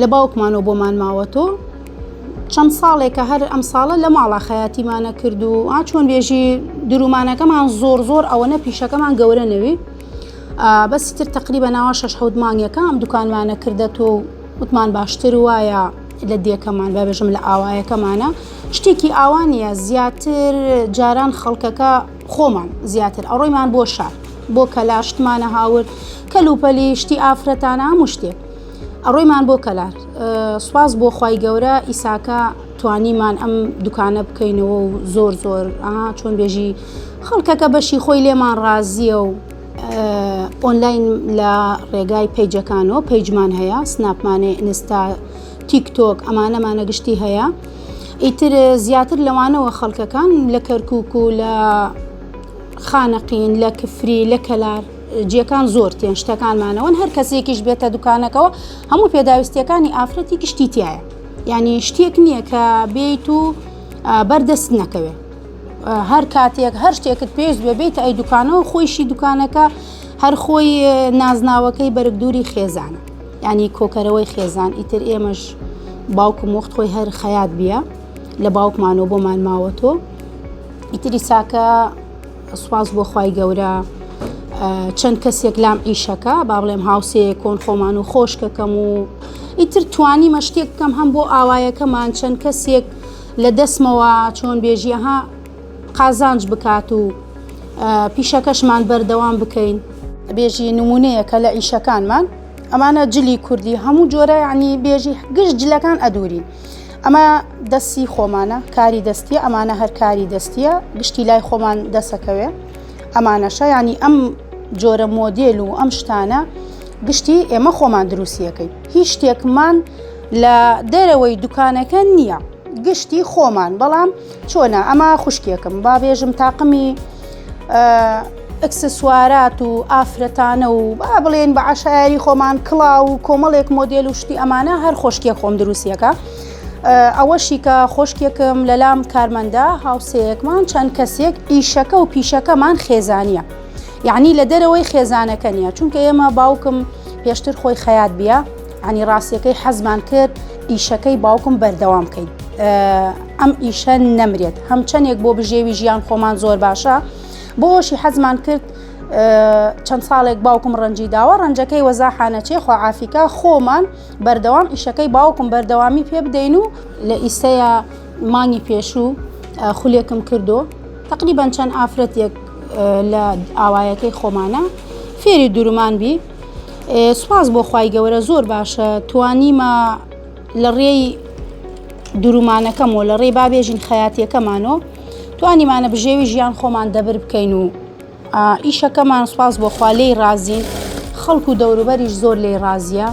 لە باوکمانەوە بۆمان ماوەتۆ چەند ساڵێکە هەر ئەم ساڵە لە ماڵا خەیاتیمانە کرد و ئا چۆن بێژی درومانەکەمان زۆر زۆر ئەوەنە پیشەکەمان گەورە نەوی بەسی تر تقریبە ناوە شش حوت مانگەکە ئەم دوکانمانە کردێت و وتمان باشتر وایە لە دێکەمان بەبێژم لە ئاوایەکەمانە شتێکی ئاوانە زیاتر جاران خەڵکەکە خۆمان زیاتر ئەڕۆیمان بۆ شار بۆ کەلاشتمانە هاورد کەلوپەلی شتی ئافرەتانە هەموو شتێک ئەڕۆیمان بۆ کەلار سوپاس بۆ خوای گەورە ئیساکە توانیمان ئەم دوکانە بکەینەوە و زۆر زۆر چۆن بێژی خەڵکەکە بەشی خۆی لێمان ڕازیە و ئۆنلاین لە ڕێگای پەیجەکانەوە پەیجمان هەیە سناپمانێ ئینستا تیک تۆک ئەمانەمانە گشتی هەیە ئیتر زیاتر لەوانەوە خەڵکەکان لە کەرکک و لە خانەقین لە کفری لە کەلار جیەکان زۆر تێن شتەکانمانەوەن هەر کەسێکیش بێتە دوکانەکەەوە هەموو پێداویستیەکانی ئافرەتی گشتی تایە یعنی شتێک نییە کە بێیت و بەردەست نەکەوێت هەر کاتێک هەر شتێکت پێویست بێ بیت ئەی دوکانەوە خۆیشی دوکانەکە هەر خۆی نازناوەکەی بەرگدووری خێزانە ینی کۆکەرەوەی خێزان ئیتر ئێمەش باوکم وەخت خۆی هەر خەیات بیە لە باوکمانەوە بۆمان ماوە تۆ ئیتری ساکە سوپاس بۆ خوای گەورە چەند کەسێک لام ئیشەکە با بڵێم هاوسەیە کۆن خۆمان و خۆشکەکەم و ئیتر توانیمە شتێک بکەم هەم بۆ ئاوایەکەمان چەند کەسێک لە دەستمەوە چۆن بێژیەها قازانج بکات و پیشەکەشمان بەردەوام بکەین بێژی نمونەیەکە لە ئیشەکانمان ئەمانە جلی کوردی هەموو جۆرە عنی بێژی گشت جلەکان ئەدورین ئەمە دەستی خۆمانە کاری دەستیە ئەمانە هەر کاری دەستیە گشتی لای خۆمان دەسەکەوێ ئەمانەشە ینی ئەم جۆرە مۆدیل و ئەم شتانە گشتی ئێمە خۆمان دروستیەکەی هیچ شتێکمان لە دەرەوەی دوکانەکە نییە گشتی خۆمان بەڵام چۆنە ئەمە خوشکێکم با بێژم تاقمی ئەکسسوارات و ئافرەتانە و با بڵێن بە عشایری خۆمان کڵا و کۆمەڵێک مۆدیل و شتی ئەمانە هەر خۆشکێ خۆم دروستیەکە ئەوەشی کە خۆشکێکم لەلام کارمەندە هاوسەیەکمان چەند کەسێک ئیشەکە و پیشەکەمان خێزانە یعنی لە دەرەوەی خێزانەکە نیە چونکە ئێمە باوکم پێشتر خۆی خەیات بیە عنی ڕاستیەکەی حەزمان کرد ئیشەکەی باوکم بەردەوام بکەین ئەم ئیشە نەمرێت هەم چەندێک بۆ بژێوی ژیان خۆمان زۆر باشە بۆ ئەوشی حەزمان کرد چەند ساڵێک باوکم ڕەنجی داوە ڕەنجەکەی وەزاحانەچێ خواعافیکە خۆمان بەردەوام ئیشەکەی باوکم بەردەوامی پێ بدەین و لە ئیسەیە مانگی پێشوو خولێکم کردو تقریبان چەند ئافرەتێک لە ئاوایەکەی خۆمانە فێری دورمان بی سوپاس بۆ خوای گەورە زۆر باشە توانیمە لە ڕێی درومانەکەم و لە ڕێی بابێژین خەیاتیەکەمانۆ توانیمانە بژێوی ژیان خۆمان دەبر بکەین و ئیشەکەمان سوپاس بۆ خوا لێی ڕازین خەڵکو و دەوروبەریش زۆر لێی ڕازە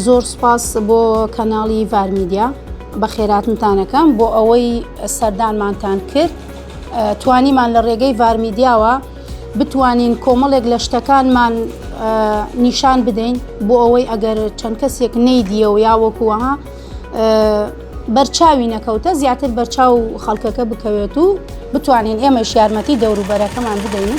زۆر سوپاس بۆ کەناڵی ڤارمیدیا بە خێراتنتانەکەم بۆ ئەوەی سەردانمانتان کرد توانیمان لە ڕێگەی ڤارمیدیاوە بتوانین کۆمەڵێک لە شتەکانمان نیشان بدەین بۆ ئەوەی ئەگەر چەند کەسێک نەیدیە و یاوەکووەها بەرچاوی نەکەوتە زیاتر بەرچاو خەڵکەکە بکەوێت و بتوانین ئێمەش یارمەتی دەوروبەرەکەمان بدەین.